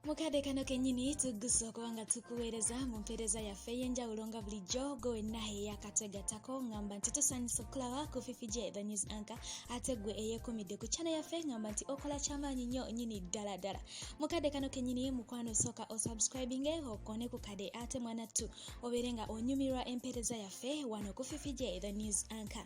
mukadde kano kennyini tuggusa okuba nga tukuweereza mu mpeereza yaffe ey'enjawulo nga bulijjo gwe wenna eyakategatako ngamba nti tusanyusa okulaba ku fifi gye the news anka ate gwe eyekumidde ku kyana yaffe ngamba nti okola kyamaanyi nnyo nyini ddala ddala mukadde kano kennyini mukwano osooka osubscribinge okone ku kade ate mwanattu obeere nga onyumirwa empeereza yaffe wano ku fifi gye the news anka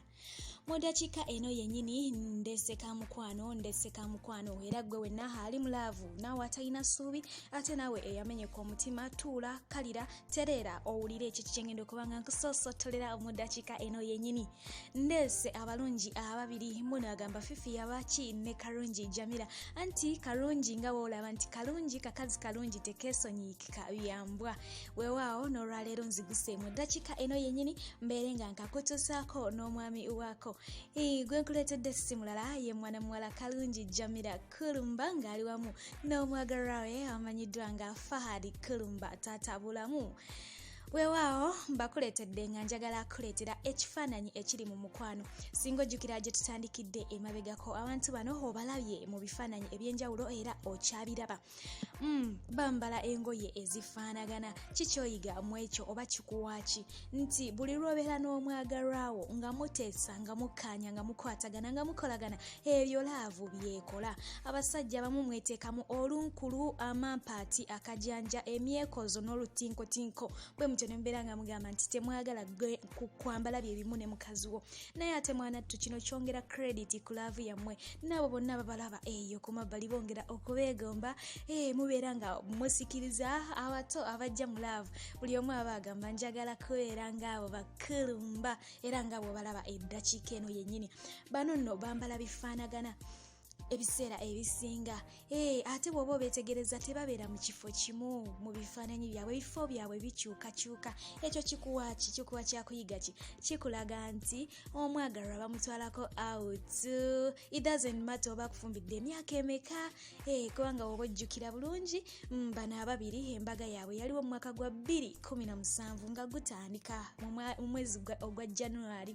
mu dakiika eno yennyini ndeseka mukwano ndeseka mukwano era gwe wenna ali mu laavu naawe atalina ssuubi ate naawe eyamenyeka omutima tuula kalira tereera owulire ekyo kikyengenda okuba nga nkusoosotolera mu dakiika eno yennyini ndeese abalungi ababiri muno agamba fifi yabaki ne kalungi jamira anti kalungi nga woolaba nti kalungi kakazi kalungi tekeesonyiika kika byambwa wewaawo n'olwaleero nziguseemu eddakiika eno yennyini mbeere nga nkakutuusaako n'omwami waako gwe nkuleetedde si mulala ye mwana muwala kalungi jamira kulumba ng'ali wamu n'omwagalwa we amanyiddwa nga fahadi kulumba taata bulamu weewaawo mbakuleetedde nga njagala kuleetera ekifaananyi ekiri mu mukwano singa ojjukira gye tutandikidde emabegako abantu bano obalabye mu bifaananyi eby'enjawulo era okyabiraba Mm, bambala engoye ezifaanagana kikyoyiga mu ekyo oba kikuwaaki nti buli lwobeera n'omwagalwawo nga muteesa nga mukkaanya nga mukwatagana nga mukolagana ebyo laavu byekola abasajja bamu mweteekamu olunkulu amampaati akajanja emyekozo n'olutinkotinko bwe mutyo ne mubeera nga mugamba nti temwagala kwambala bye bimu ne mukazi wo naye ate mwanattu kino kyongera krediti ku laavu yammwe naabo bonna babalaba eyo ku mabbali bongera okubeegomba eh, mubeera nga musikiriza abato abajja mu laavu buli omu aba agamba njagala kubeera ngaabo bakulumba era nga bwobalaba eddakiika eno yennyini bano nno bambala bifaanagana ebiseera ebisinga ee eh, ate bw'oba obeetegereza tebabeera mu kifo kimu mu bifaananyi byabwe ebifo byabwe bikyukakyuka ekyo kikuwa ki kikuwa kyakuyiga ki kikulaga nti omwagalwa bamutwalako out it doesn't matter oba akufumbidde emyaka emeka ee eh, kubanga woba ojjukira bulungi mm, bano ababiri embaga yaabwe yaliwo mu mwaka gwa 217 nga gutandika mu mwezi ogwa january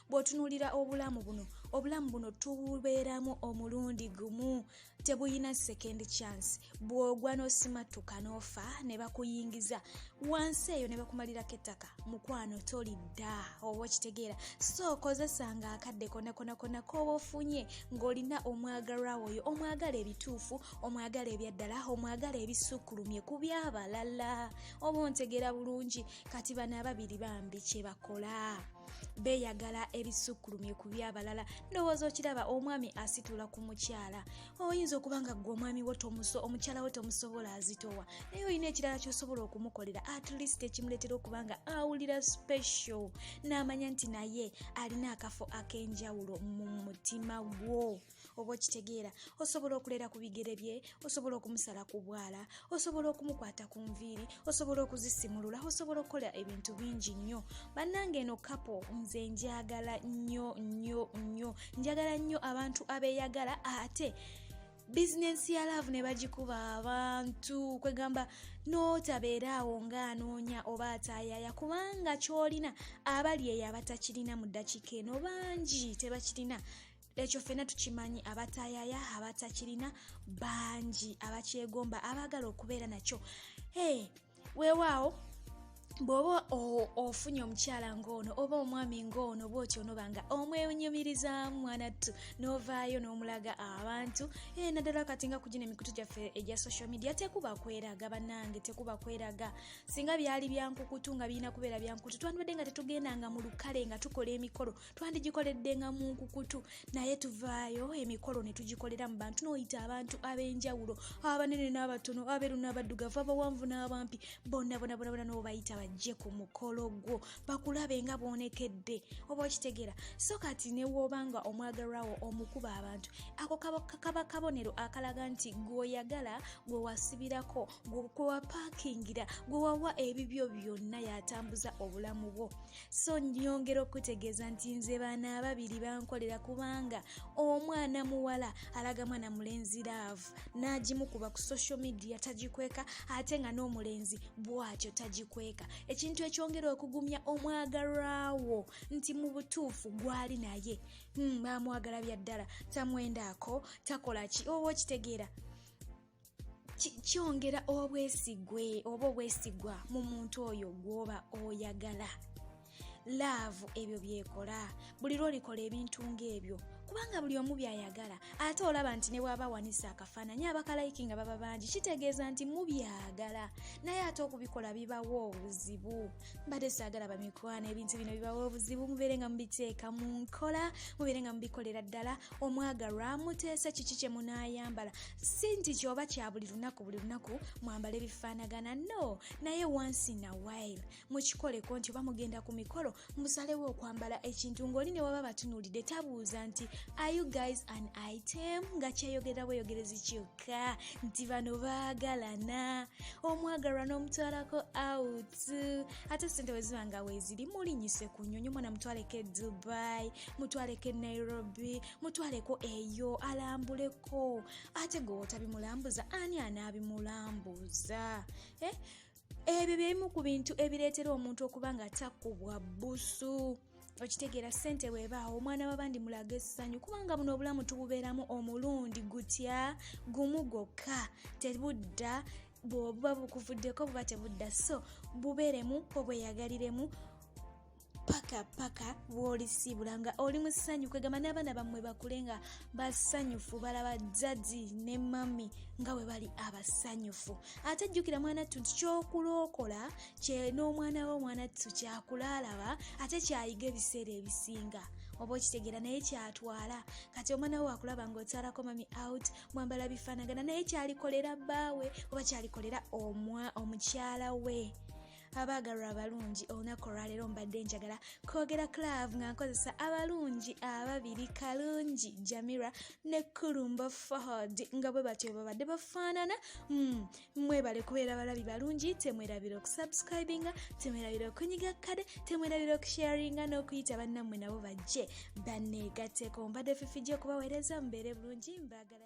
bw'otunuulira obulamu buno obulamu buno tububeeramu omulundi gumu tebuyina second chance bw'ogwa n'osimattuka n'ofa ne bakuyingiza wansi eyo ne bakumalirako ettaka mukwano tolidda oba okitegeera so kozesanga akadde konakonakona k'oba ofunye ng'olina omwagalwa woyo omwagala ebituufu omwagala ebyaddala omwagala ebisukkulumye ku byabalala oba ontegeera bulungi kati bano ababiri bambi kye bakola beeyagala ebisukkulumye ku byabalala ndowooza okiraba omwami asitula ku mukyala oyinza okuba nga ggwe omwami wo omukyala wo tomusobola azitowa naye olina ekirala kyosobola okumukolera at least ekimuleetera okuba nga awulira special n'amanya nti naye alina akafo ak'enjawulo mu mutima gwo oba okitegeera osobola okulera ku bigere bye osobola okumusala ku bwala osobola okumukwata ku nviiri osobola okuzisimulula osobola okukola ebintu bingi nnyo bannanga eno kapo nze njagala nnyo nnyo nnyo njagala nnyo abantu abeyagala ate bizinensi ya laavu ne bagikuba abantu kwegamba n'otabeeraawo ng'anoonya oba ataayaaya kubanga ky'olina abali eyo abatakirina mu ddakiika eno bangi tebakirina ekyo fena tukimanyi abatayaya abatakirina bangi abakyegomba abaagala okubeera nakyo hey, weewaawo bw'oba ofunye omukyala ng'ono oba omwami ng'ono bwotyo onoba nga omwenyumirizaamu mwanattu n'ovaayo n'omulaga abantu ee naddala kati nga kugina emikutu gyaffe egya social media tekuba kweraga bannange tekuba kweraga singa byali byankukutu nga birina kubeera byankukutu twandibadde nga tetugenda nga mu lukale nga tukola emikolo twandigikoledde nga mu nkukutu naye tuvaayo emikolo ne tugikolera mu bantu n'oyita abantu ab'enjawulo abanene n'abatono abeeru n'abaddugavu abawanvu n'abampi bonna bonabonabona n'obayita bajje ku mukolo gwo bakulabe nga boonekedde oba okitegeera so kati newooba nga omwagalwawo omukuba abantu ako kaba kabonero akalaga nti gweoyagala gwe wasibirako gwe wapaakingira gwe wawa ebibyo byonna yatambuza obulamu bwo so nyongera okutegeeza nti nze baana ababiri bankolera kubanga omwana muwala alaga mwana mulenzi laavu n'agimukuba ku social media tagikweka ate nga n'omulenzi bwatyo tagikweka ekintu ekyongera okugumya omwagalwawo nti mu butuufu gwali naye hmm, bamwagala bya ddala tamwendaako takola ki oba okitegeera kyongera obwesigwe oba obwesigwa mu muntu oyo gwoba oyagala laavu ebyo byekola buli lwolikola ebintu ng'ebyo kubanga buli omu byayagala ate olaba nti ne bwaba awanisa akafaananyi abakalayiki nga baba bangi kitegeeza nti mubyagala naye ate okubikola bibawo obuzibu mbadde saagala bamikwana ebintu bino bibawo obuzibu mubeere nga mubiteeka mu nkola mubeere nga mubikolera ddala omwagalwa muteese kiki kye munaayambala si nti kyoba kya buli lunaku buli lunaku mwambala ebifaanagana no naye once in a while mukikoleko nti oba mugenda ku mikolo musalewo okwambala ekintu ng'oli ne waba batunuulidde tabuuza nti are you guys an item nga kyeyogera bweyogerezi kyokka nti bano baagalana omwagalwa n'omutwalako out ate sente bwe ziba nga weeziri mulinyise ku nyonyi omwana mutwaleko e dubai mutwaleko e nairobi mutwaleko eyo alambuleko ko ate gwe wotabimulambuza ani anaabimulambuza eh? ebyo byebimu ku bintu ebireetera omuntu okuba nga takubwa busu okitegeera ssente bwebaawo omwana wabandi mulaga essanyu kubanga buno obulamu tububeeramu omulundi gutya gumu gwokka tebudda bwobuba bukuvuddeko buba tebudda so bubeeremu obweyagaliremu paka paka bwolisiibula nga oli mu ssanyu kwegamba n'abaana bammwe bakule nga basanyufu balaba jjaji ne mami nga bwe bali abasanyufu ate jjukira mwana ttu nti kyokulookola kye n'omwana we omwana ttu kyakulaalaba ate kyayiga ebiseera ebisinga oba okitegeera naye kyatwala kati omwana we wakulaba ng'okyalako mami out mwambala bifaanagana naye kyalikolera bbaawe oba kyalikolera omukyala we abaagalwa abalungi olunaku olwaleero mbadde njagala kwogera club nga nkozesa abalungi ababiri kalungi jamira ne kulumba fahad nga bwe batyo babadde bafaanana hmm, mwebale kubeera balabi balungi temwerabira okusubscribinga temwerabira okunyiga kade temwerabira okusharinga n'okuyita bannammwe nabo bajje banneegatteko mbadde fifijja okubaweereza mubeere bulungi mbaagala